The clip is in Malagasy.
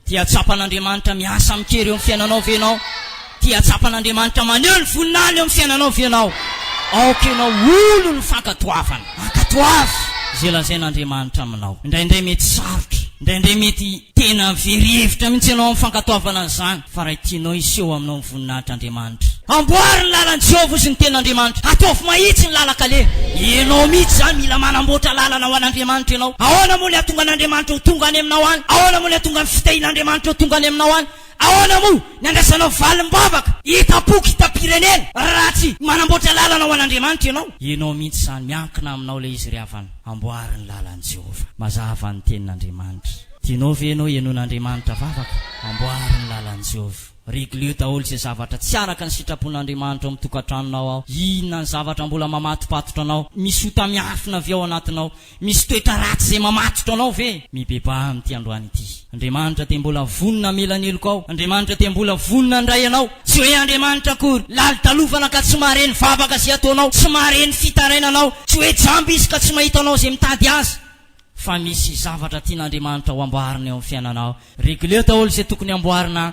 Tia tsapan'Andriamanitra miasa amin-kery eo amin'ny fiainanao ve ianao? Tia tsapan'Andriamanitra maneho ny voninahiny eo amin'ny fiainanao ve ianao? Aoka ianao ho olon'ny fankatoavana. Ankatoavy izay lazain'Andriamanitra aminao. Indraindray mety sarotra, indraindray mety. Tena very hevitra mihitsy ianao amin'ny fankatoavana an'izany, fa raha tianao hiseho aminao ny voninahitr'Andriamanitra, amboary ny lalan'i Jehovah Izy ny Tenin'Andriamanitra, ataovy mahitsy ny lalan-kaleha. Ianao mihitsy izany mila manamboatra lalana ho an'Andriamanitra ianao. Ahoana moa ny hahatonga an'Andriamanitra ho tonga any aminao any? Ahoana moa ny hahatonga ny fitahian'Andriamanitra ho tonga any aminao any? Ahoana moa ny andrasanao valim-bavaka hitam-poko hitam-pirenena raha tsy manamboatra lalana ho an'Andriamanitra ianao? Ianao mihitsy izany, miankina aminao ilay izy ry havana, amboary ny lalan'i Jehovah. Mazava ny tenin'Andriamanitra. Tianao ve ianao henoin'Andriamanitra vavaka? Amboary ny lalan'i Jehovah. Regleo daholo izay zavatra tsy araka ny sitrapon'Andriamanitra ao amin'ny tokantranonao ao. Inona ny zavatra mbola mamatopatotra anao, misy ota miafina avy ao anatinao? Misy toetra ratsy izay mamatotra anao ve? Mibebaha amin'ity androany ity. Andriamanitra dia mbola vonona hamela ny heloka ao. Andriamanitra dia mbola vonona handray anao. Tsy hoe Andriamanitra akory, lalitalofana ka tsy mahare ny vavaka izay ataonao, tsy mahare ny fitarainanao, tsy hoe jamba Izy ka tsy mahita anao izay mitady Azy, fa misy zavatra tian'Andriamanitra ho amboarina eo amin'ny fiainanao. Regleo daholo izay tokony hamboarina